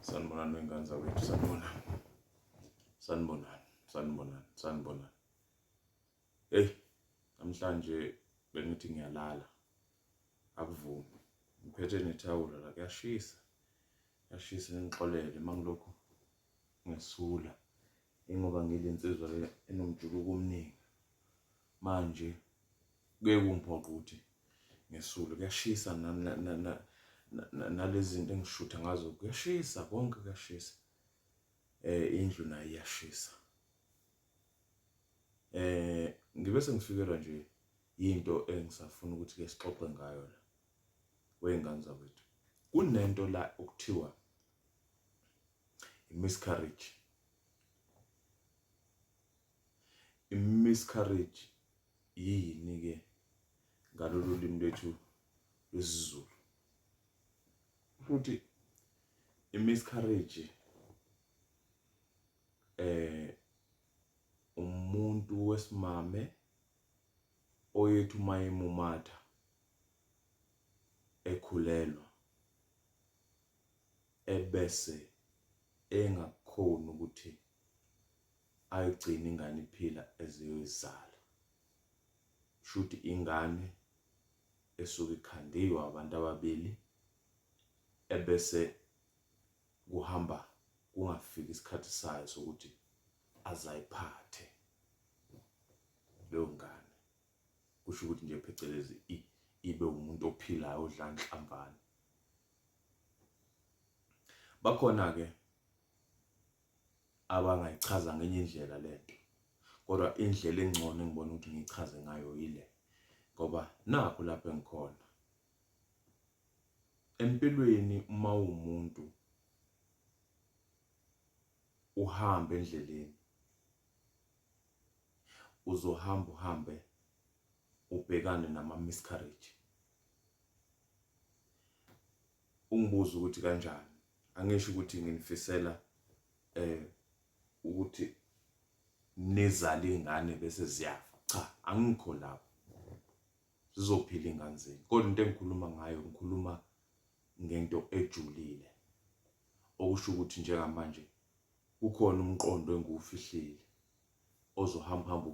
Sanibonani wengane zakwethu, sanibonani. Sanibonani, sanibonani, sanibonani. Hey, namhlanje bengithi ngiyalala. Akuvumi. Ngiphethe nethawula la kuyashisa. Kuyashisa ngixolele mangilokhu ngesula. Ingoba ngile nsizwa le enomjuluko omningi. Manje kuye kungiphoqa ukuthi ngesule. Kuyashisa nalezi zinto engishutha ngazo kuyashisa konke kuyashisa. Eh indlu nayo iyashisa. Eh ngibe sengifikelwa nje into engisafuna ukuthi ke sixoxe ngayo la. Weyingane zakwethu. Kunento la okuthiwa i-miscarriage i-miscarriage yini ke ngalolu limi lwethu lwesiZulu futhi i-miscarriage eh umuntu wesimame oyethu uma emumatha ekhulelwa ebese engakhoni ukuthi ayigcine ingane iphila eziyoyizala shuthi ingane esuke ikhandiwe abantu ababili ebese kuhamba kungafiki isikhathi sayo sokuthi azayiphathe leyo ngane kusho ukuthi nje phecelezi ibe umuntu ophilayo odla nhlamvana bakhona ke abangayichaza ngenye indlela lento kodwa indlela engcono engibona ukuthi ngichaze ngayo yile ngoba nakho lapho engikhona empilweni uma umuntu uhamba endleleni uzohamba uhambe ubhekane nama miscarriage ungibuza ukuthi kanjani angisho ukuthi nginifisela eh ukuthi nizale ingane bese ziyafa cha angikho lapho zizophila ingane zenu kodwa into engikhuluma ngayo ngikhuluma ngento ejulile okusho ukuthi njengamanje kukhona umqondo engiwufihlile ozohamba hamba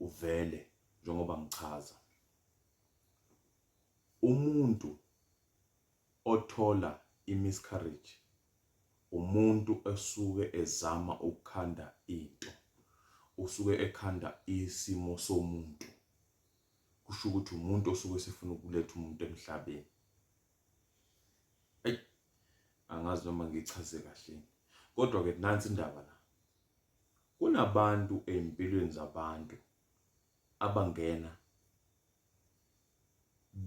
uvele njengoba ngichaza umuntu othola imiscarriage umuntu esuke ezama ukukhanda into usuke ekhanda isimo somuntu kusho ukuthi umuntu osuke sifuna ukuletha umuntu emhlabeni eyi angazi noma ngichaze kahle kodwa ke nansi indaba la kunabantu ezimpilweni zabantu abangena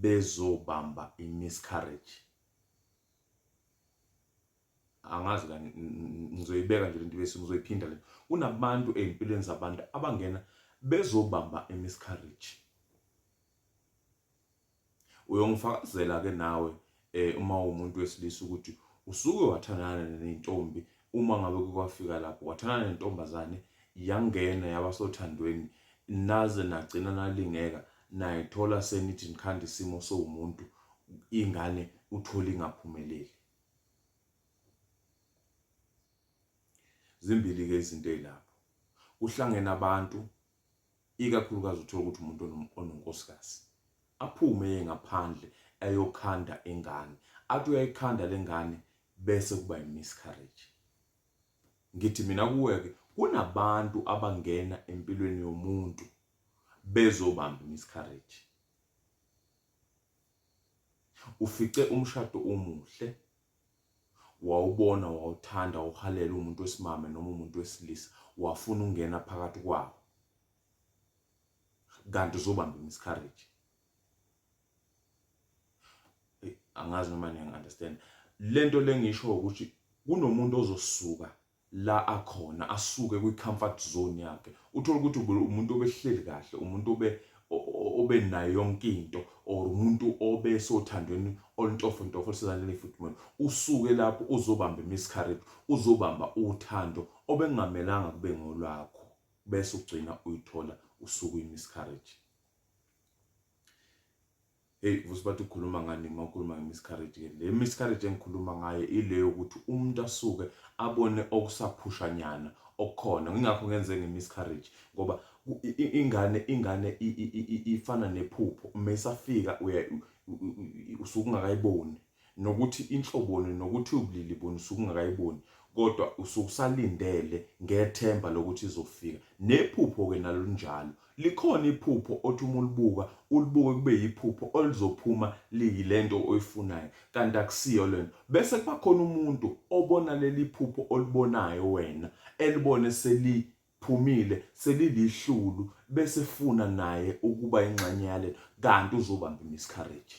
bezobamba imiscarriage angazi kani ngizoyibeka nje lento bese ngizoyiphinda le kunabantu ezimpilweni zabantu abangena bezobamba imiscarriage uyongifakazela ke nawe eh uma umuntu wesilisa ukuthi usuke wathandana nentombi uma ngabe kukwafika lapho wathandana nentombazane yangena yaba sothandweni naze nagcina nalingeka nayithola senithi nikhanda isimo sowumuntu ingane uthole ingaphumeleli zimbili ke izinto ezilapho kuhlangene abantu ikakhulukazi uthola ukuthi umuntu ononkosikazi aphume eye ngaphandle ayokhanda ingane athi uyayikhanda lengane bese kuba imiscarriage ngithi mina kuweke kunabantu abangena empilweni yomuntu bezobamba imiscarriage ufice umshado omuhle wawubona wawuthanda uhalela umuntu wesimame noma umuntu wesilisa wafuna ungena phakathi kwawo kanti uzobamba imiscarriage angazi noma niyangi-understand le nto le ngisho ukuthi kunomuntu ozosuka la akhona asuke kwi comfort zone yakhe uthola ukuthi ube umuntu obehleli kahle umuntu obe obe nayo yonke into or umuntu obe sothandweni olintofo ntofo lisezandleni efudumele usuke lapho uzobamba imiscarriage uzobamba uthando obengamelanga kube ngolwakho bese ugcina uyithola usuku imiscarriage Hey vusi bathi ukhuluma ngani uma ukhuluma ngemiscarriage ke le miscarriage engikhuluma ngayo ile yokuthi umuntu asuke abone okusaphushanyana okukhona ngingakho ngenze ngemiscarriage ngoba ingane ingane ifana nephupho uma isafika usuke ungakayiboni nokuthi inhloboni nokuthi ubulili buni usuke ungakayiboni kodwa usuke usalindele ngethemba lokuthi izofika nephupho-ke nalo linjalo likhona iphupho othi uma ulibuka ulibuke kube yiphupho olizophuma liyile nto oyifunayo kanti akusiyo le nto bese kuba khona umuntu obona leli phupho olibonayo wena elibone seli phumile selilihlulu bese funa naye ukuba ingxenye yale kanti uzobamba imiscarriage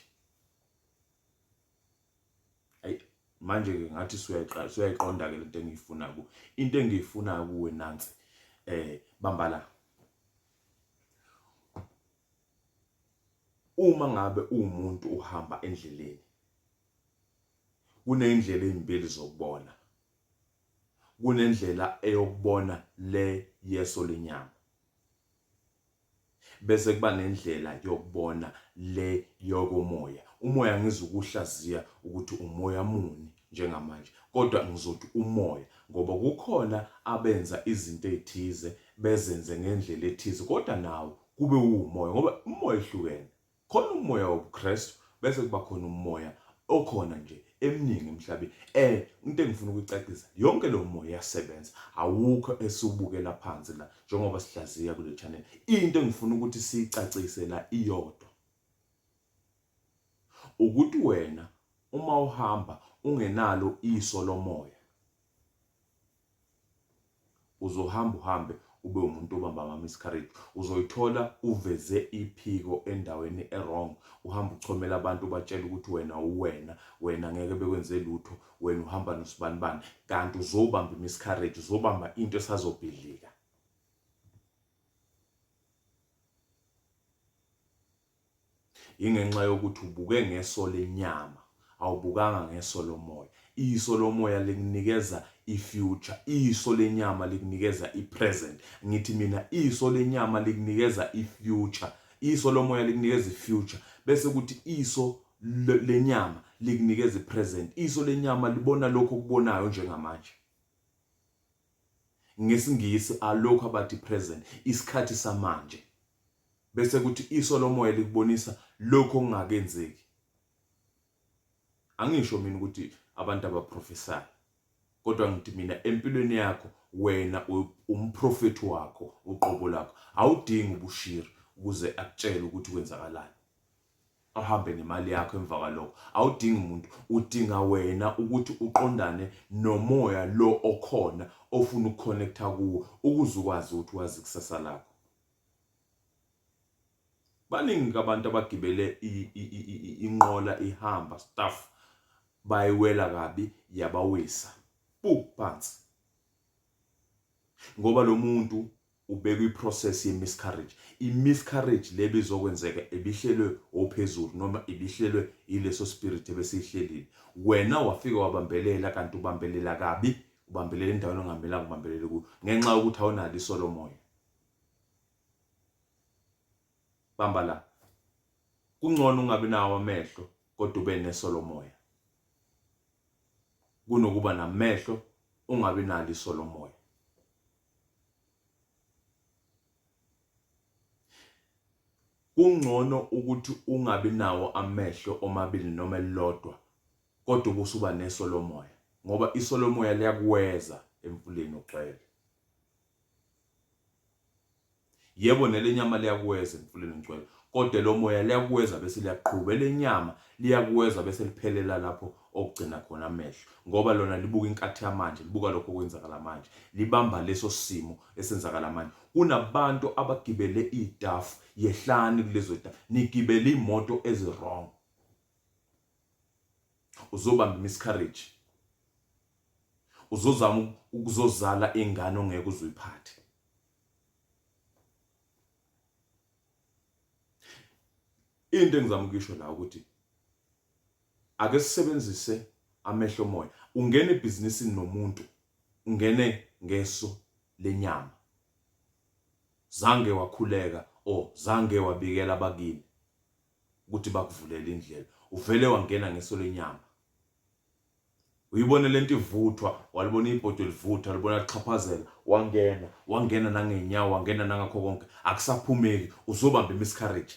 manje ke ngathi suyayiqonda ke lento engiyifuna ku into engiyifuna kuwe nansi eh bamba la uma ngabe umuntu uhamba endleleni kunendlela ezimbili zokubona kunendlela eyokubona le yeso lenyama bese kuba nendlela yokubona le yokomoya umoya ngizukuhlaziya ukuthi umoya muni njengamanje kodwa ngizothi umoya ngoba kukhona abenza izinto ezithize bezenze ngendlela ethize kodwa nawo kube umoya ngoba umoya ehlukene khona umoya wobuKristu bese kuba khona umoya okhona nje eminingi emhlabeni eh into engifuna ukucacisa yonke lo moya iyasebenza awukho esiwubukela phansi la njengoba sihlaziya kule channel into engifuna ukuthi sicacise la iyodwa ukuthi wena uma uhamba ungenalo iso lomoya uzohamba uhambe ube umuntu obamba ama miscarriage uzoyithola uveze iphiko endaweni ewrong uhamba uchomela abantu ubatshela ukuthi wena uwena wena ngeke bekwenze lutho wena uhamba nosibanibani kanti uzobamba imiscarriage uzobamba into esazobhidlika Yingenxa yokuthi ubuke ngeso lenyama, awubukanga ngeso lomoya. Iso lomoya likunikeza i-future, iso lenyama likunikeza i-present. Ngithi mina iso lenyama likunikeza i-future, iso lomoya likunikeza i-future, bese kuthi iso lenyama likunikeza i-present. Iso lenyama libona lokho okubonayo njengamanje. NgesiNgisi alokho abathi present, isikhathi samanje. bese kuthi iso lomoya likubonisa lokho okungakenzeki angisho mina ukuthi abantu abaprofesayo kodwa ngithi mina empilweni yakho wena umprofethi wakho uqobo lakho awudingi ubushiri ukuze akutshele ukuthi kwenzakalani ahambe nemali yakho emva kwalokho awudingi umuntu udinga wena ukuthi uqondane nomoya lo okhona ofuna ukuconnecta kuwo ukuze ukwazi ukuthi wazi ikusasa lakho baningi abantu abagibele inqola ihamba staff bayiwela kabi yabawisa pu phansi ngoba lo muntu ubeka iprocess ye-miscarriage i-miscarriage le bizokwenzeka ebihlelwe ophezulu noma ibihlelwe yileso spirit ebesihlelile wena wafika wabambelela kanti ubambelela kabi ubambelela endaweni ongamela kubambelela kuyo ngenxa yokuthi awunalo isolomoya bamba la kungcono ungabi nawo amehlo kodwa ube neso lomoya kunokuba namehlo ungabi nalo iso lomoya kungcono ukuthi ungabi nawo amehlo omabili noma elilodwa kodwa ubusuba neso lomoya ngoba iso lomoya liyakuweza emfuleni ugcwele yebo nelenyama liyakuweza emfuleni ngcwele kodwa lomoya liyakuweza bese liyaqhuba elenyama liyakuweza bese liphelela lapho okugcina khona amehlo ngoba lona libuka inkathi yamanje libuka lokho okwenzakala manje libamba leso simo esenzakala manje kunabantu abagibele idafu yehlani kulezo dafu nigibele imoto eziwrong uzobamba miscarriage uzozama ukuzozala ingane ongeke uzuyiphathe into engizama ukuyisho la ukuthi ake sisebenzise amehlo moya ungena ebhizinisini nomuntu ungene ngeso lenyama zange wakhuleka o zange wabikela abakini ukuthi bakuvulele indlela uvele wangena ngeso lenyama uyibone lento ivuthwa walibona ibhodo livuthwa libona lixhaphazela wangena wangena nangenyawo wangena nangakho konke akusaphumeki uzobamba imiscarriage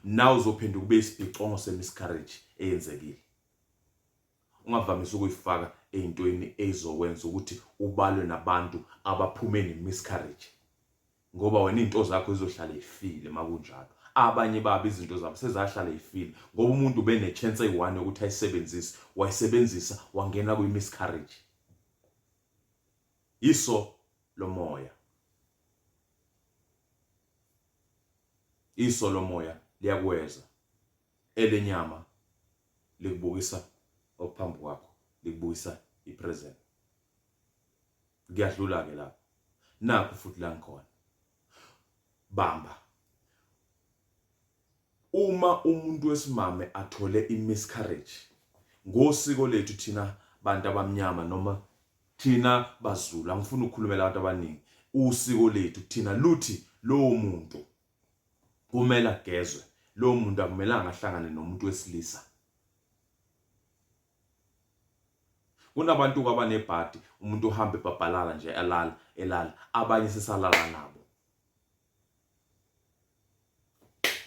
nawe uzophinde kube isibhicongo semiscarriage eyenzekile ungavamisa ukuyifaka eyintweni eyizokwenza ukuthi ubalwe nabantu abaphume nemiscarriage ngoba wena izinto zakho zizohlala ifile makunjalo abanye babo izinto zabo sezahlala ifile ngoba umuntu ubene chance eyi-1 yokuthi ayisebenzise wayisebenzisa wangena kwi-miscarriage iso lomoya iso lomoya liyakweza elenyama likubukisa okuphambi kwakho likubukisa i-present ngiyadlula-ke lapho nakho futhi la ngikhona bamba uma umuntu wesimame athole i-miscarriage ngosiko lethu thina bantu abamnyama noma thina bazulu angifuni ukukhulumela abantu abaningi usiko lethu thina luthi lowo muntu kumele agezwe lowo muntu akumelanga ahlangane nomuntu wesilisa Kunabantu kwabanebhadi umuntu uhambe ebhabhalala nje alala elala abanye sesalala nabo.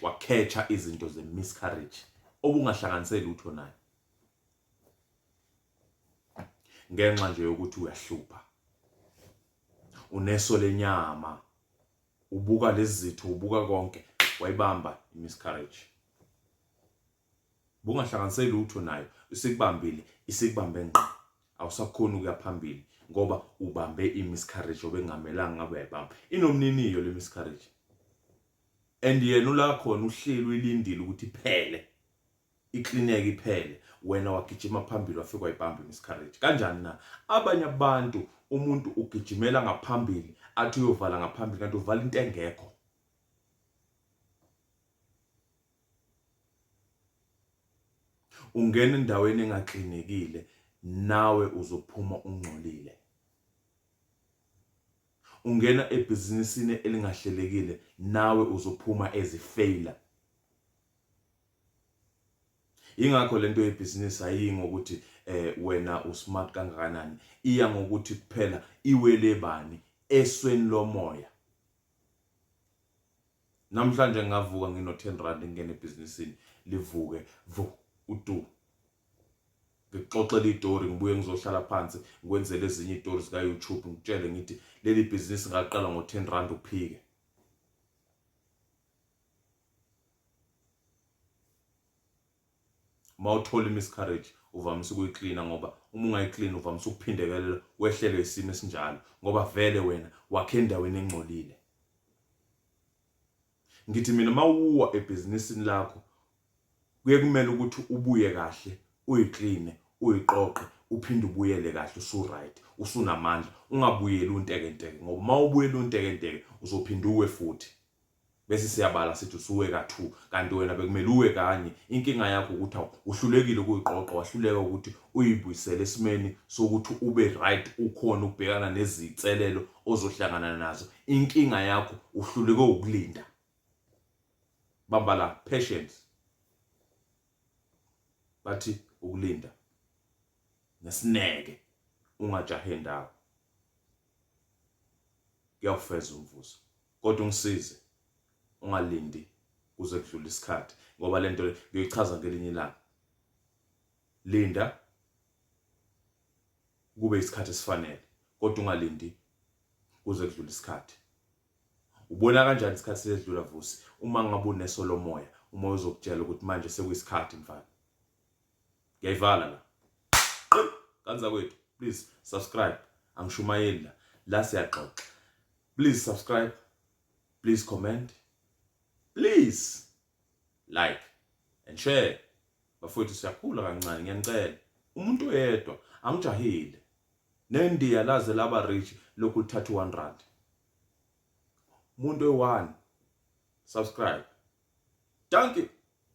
Wakhetsha izinto ze miscarriage obungahlanganiseli utho naye. Ngenxa nje yokuthi uyahlupha. Uneso lenyama. Ubuka lezitho ubuka konke wayibamba i miscarriage. bungahlanganiseki lutho nayo isikubambile isikubambe ngqo awusakhona ukuya phambili ngoba ubambe i-miscarriage obengamelanga ngabe uyayibamba inomniniyo le miscarriage and yena ula khona uhleli uyilindile ukuthi iphele iklineke iphele wena wagijima phambili wafika wayibamba i-miscarriage kanjani na abanye abantu umuntu ugijimela ngaphambili athi uyovala ngaphambili kanti uvala into engekho ungena endaweni engaklinekile nawe uzophuma ungcolile ungena ebhizinisini elingahlelekile nawe uzophuma ezifeyila ingakho lento yebhizinisi ayiyi ngokuthi eh wena usmart kangakanani iya ngokuthi kuphela iwele bani esweni lomoya namhlanje ngingavuka ngino 10 rand ngingene ebhizinisini livuke vu utu ngixoxele itori ngibuye ngizohlala phansi ngikwenzele ezinye itori zika YouTube ngitshele ngithi leli bhizinisi ngaqala ngo 10 rand uphike uma uthola i-miscarriage uvamise ukuyiklina ngoba uma ungayiklini uvamise ukuphindekelela wehlelwe isimo esinjalo ngoba vele wena wakhe endaweni engcolile ngithi mina mawuwa ebhizinisini lakho kuye kumele ukuthi ubuye kahle uyikline uyiqoqe uphinde ubuyele kahle usuright usunamandla ungabuyeli untekenteke ngoba uma ubuyela untekenteke uzophinde uwe futhi bese siyabala sithi usuwe ka-2 kanti wena bekumele uwe kanye inkinga yakho ukuthi awu uhlulekile ukuyiqoqa wahluleka ukuthi uyibuyisele esimeni sokuthi ube right ukhona ukubhekana nezinselelo ozohlangana nazo inkinga yakho uhluleke ukulinda bamba la patience bathi ukulinda nesineke ungajahe ndawo kuyawufeza umvuzo kodwa ungisize ungalindi kuze kudlule isikhathi ngoba lento ngiyoyichaza ngelinye ilanga linda kube isikhathi esifanele kodwa ungalindi kuze kudlule isikhathi ubona kanjani isikhathi sesidlula vusi uma ngabe unesolomoya umoya uzokutshela ukuthi manje sekuyisikhathi mfana ngiyayivala la kanza kwethu please subscribe angishumayeli la la siyaxoxa Please subscribe. Please comment. Please like and share. Bafowethu siyakhula kancane ngiyanicela. Umuntu oyedwa angijahile. Nendiya laze laba rich lokhu lithatha 1 rand. Umuntu oyi-1 subscribe. Dankie.